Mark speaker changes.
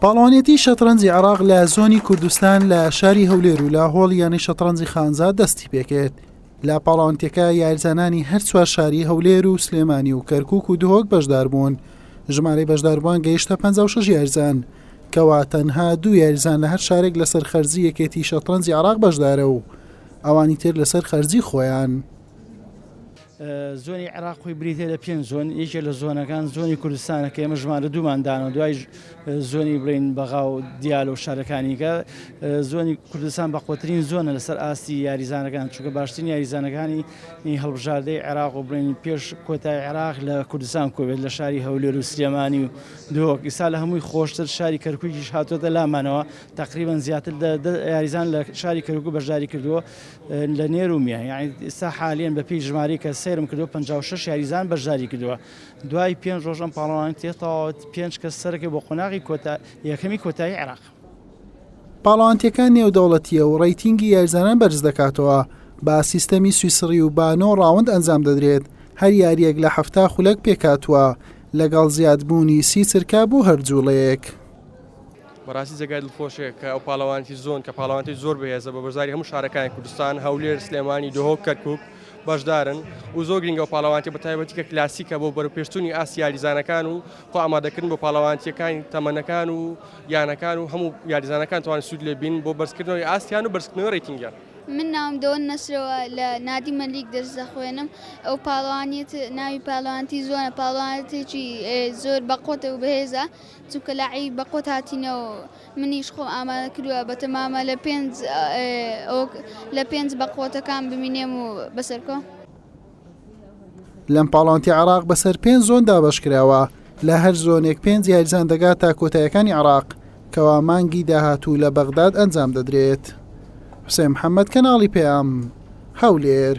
Speaker 1: پاڵەوانێتی شەتڕەنجی عێراق لە زۆنی کوردستان لە شاری هەولێر و لە هۆڵ یانەی شەتڕەنجی خانزا دەستی پێکرد لە پاڵاوانتەکە یارزانانی هەر چوار شاری هەولێر و سلێمانی و کەرکک و دهۆک بەشدار بوون ژمارەی بەشداربووان گەیشتە 56 یارزان کەوا تەنها دوو یارزان لە هەر شارێک لەسەر خەرجی یەکێتی شەتڕەنجی عراق بەشدارە و ئەوانی تر لەسەر خەرجی خۆیان.
Speaker 2: زۆنی عێراق خۆی بریتیە لە پێنج زۆن یەکێ لە زۆنەکان زۆنی کوردستانە کە ئێمە ژمارە دوومان دانەوە دوای زۆنی بڵین بەغا و دیال و شارەکانیکە زۆنی کوردستان بەقوترین زۆنە لەسەر ئاستی یاریزانەکان چونکە باشترین یاریزانەکانی هەڵبژاردەی عێراق و بڵێن پێش کۆتای عێراق لە کوردستان کۆبێت لە شاری هەولێر و سلێمانی و دۆک ئیسا لە هەمووی خۆشتر شاری کەرکوکیش هاتۆتە لامانەوە تقریبان زیاتر یاریزان لە شاری کەرکک بەشداری کردووە لە نێر و میان یعنی ئێستا حالیەن بە پێی ژمارەی کە سەیرم کردو 56 یاریزان بەشداری کردووە دوای پێنج ڕۆژ ئەم پاڵەوان تێتەواوت پێنج کەس سەرەکە بۆ قۆناغی کۆتا یەکەمی کۆتایی عێراق
Speaker 1: پاڵەوانتیەکان نێودەوڵەتیە و ڕەیتینگی یاریزانان بەرز دەکاتەوە با سیستەمی سویسڕی و با نۆ ڕاوند ئەنجام دەدرێت هەر یاریەک لە حەفتا خولەک پێکهاتووە لەگەڵ زیادبوونی سی چرکە بۆ هەر جوڵەیەک.
Speaker 3: بەڕاستی جێگای دڵخۆشیە کە ئەو پاڵەوانێتی زۆن کە پاڵەوانێتی زۆر بەهێزە بە بەشداری هەموو شارەکانی کوردستان هەولێر سلێمانی دهۆک کەرکک بەشدارن و زۆر گرنگە و پاڵەوانێتی بە تایبەتی کە کلاسیکە بۆ بەرپێشتونی ئاست یاریزانەکان و خۆ ئامادەکردن بۆ پاڵەوانێتیەکانی تەمەنەکان و یانەکان و هەموو یاریزانەکان توان سوود لێ بین بۆ بەرزکردنەوەی ئاستیان و بەرزکردنەوەی ڕیتنگیان. من ناوم دۆن
Speaker 4: نەسرەوە لە نادی مەلیک دەرس دەخوێنم ئەو پاڵەوانیت ناوی پاڵەوانتی زۆنە پاڵەوانتێکی زۆر بەقوەتە و بەهێزە چونکە لە عەی بە قوت هاتینە و منیش خۆم ئامادە کردوە بە تەمامە لە پێنج ئەوک لە پێنج بە قوتەکان بمینێم و بەسەرکۆ.
Speaker 1: لەم پاڵاوتە عێراق بەسەر پێنج زۆن دابەش کراوە لە هەر زۆنێک پێنج یاریزان دەگات تا کۆتایەکانی عێراق کەوا مانگی داهاتوو لە بەغداد ئەنجام دەدرێت حوسێن محەممەد کەناڵی پەیام هەولێر.